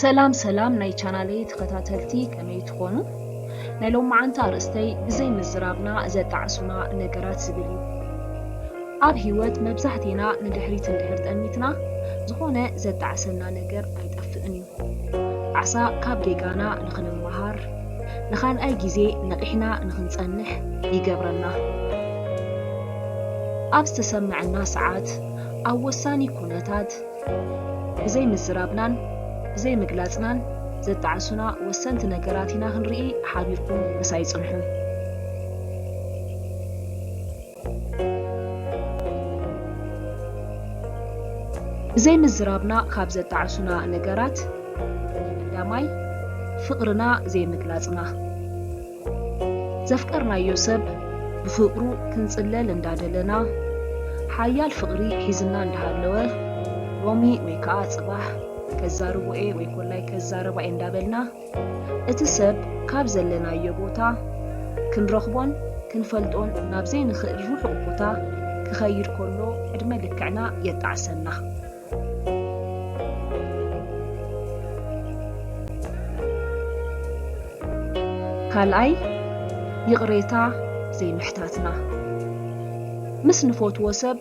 ሰላም ሰላም ናይ ቻናለይ ተኸታተልቲ ከመይ ትኾኑ? ናይ ሎማዓንቲ ኣርእስተይ ብዘይ ምዝራብና ዘጣዕሱና ነገራት ዝብል እዩ። ኣብ ህይወት መብዛሕቴና ንድሕሪት እንድሕር ጠሚትና ዝኾነ ዘጣዕሰና ነገር ኣይጠፍእን እዩ። ዓሳ ካብ ጌጋና ንኽንመሃር፣ ንኻልኣይ ግዜ ነቒሕና ንኽንጸንሕ ይገብረና። ኣብ ዝተሰምዐና ሰዓት፣ ኣብ ወሳኒ ኩነታት፣ ብዘይምዝራብናን ብዘይምግላጽናን ዘጣዕሱና ወሰንቲ ነገራት ኢና ክንርኢ ሓቢርኩም ምሳይ ጽንሑ። ብዘይ ምዝራብና ካብ ዘጣዕሱና ነገራት ቀዳማይ ፍቕርና ዘይምግላጽና። ዘፍቀርናዮ ሰብ ብፍቕሩ ክንጽለል እንዳደለና ሓያል ፍቕሪ ሒዝና እንዳሃለወ ሎሚ ወይ ከኣ ጽባሕ ከዛርቦ'የ ወይ ኮላይ ከዛረባ'የ እንዳበልና፣ እቲ ሰብ ካብ ዘለናዮ ቦታ ክንረኽቦን ክንፈልጦን ናብ ዘይንኽእል ርሑቕ ቦታ ክኸይድ ከሎ ዕድመ ልክዕና የጣዕሰና። ካልኣይ፣ ይቕሬታ ዘይምሕታትና። ምስ ንፈትዎ ሰብ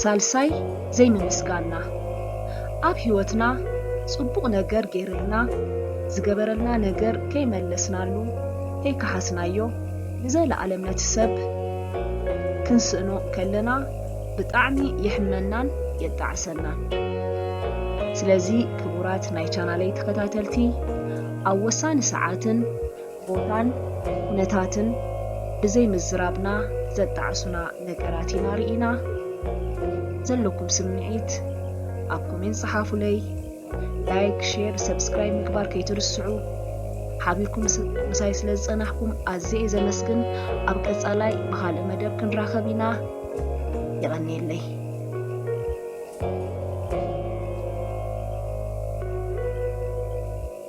ሳልሳይ ዘይምምስጋንና። ኣብ ህይወትና ጽቡቕ ነገር ገይርልና ዝገበረልና ነገር ከይመለስናሉ ከይከሓስናዮ ንዘለኣለም ነቲ ሰብ ክንስእኖ ከለና ብጣዕሚ የሕመናን የጣዕሰናን። ስለዚ ክቡራት ናይ ቻናለይ ተከታተልቲ ኣብ ወሳኒ ሰዓትን ቦታን ኩነታትን ብዘይ ምዝራብና ዘጣዕሱና ነገራት ኢና ሪኢና ዘለኩም ስምዒት ኣብ ኮሜንት ጸሓፉለይ ላይክ ሼር ሰብስክራይብ ምግባር ከይትርስዑ ሓቢርኩም ምሳይ ስለ ዝጸናሕኩም ኣዝየ እየ ዘመስግን ኣብ ቀጻላይ ብካልእ መደብ ክንራኸብ ኢና የቐንየለይ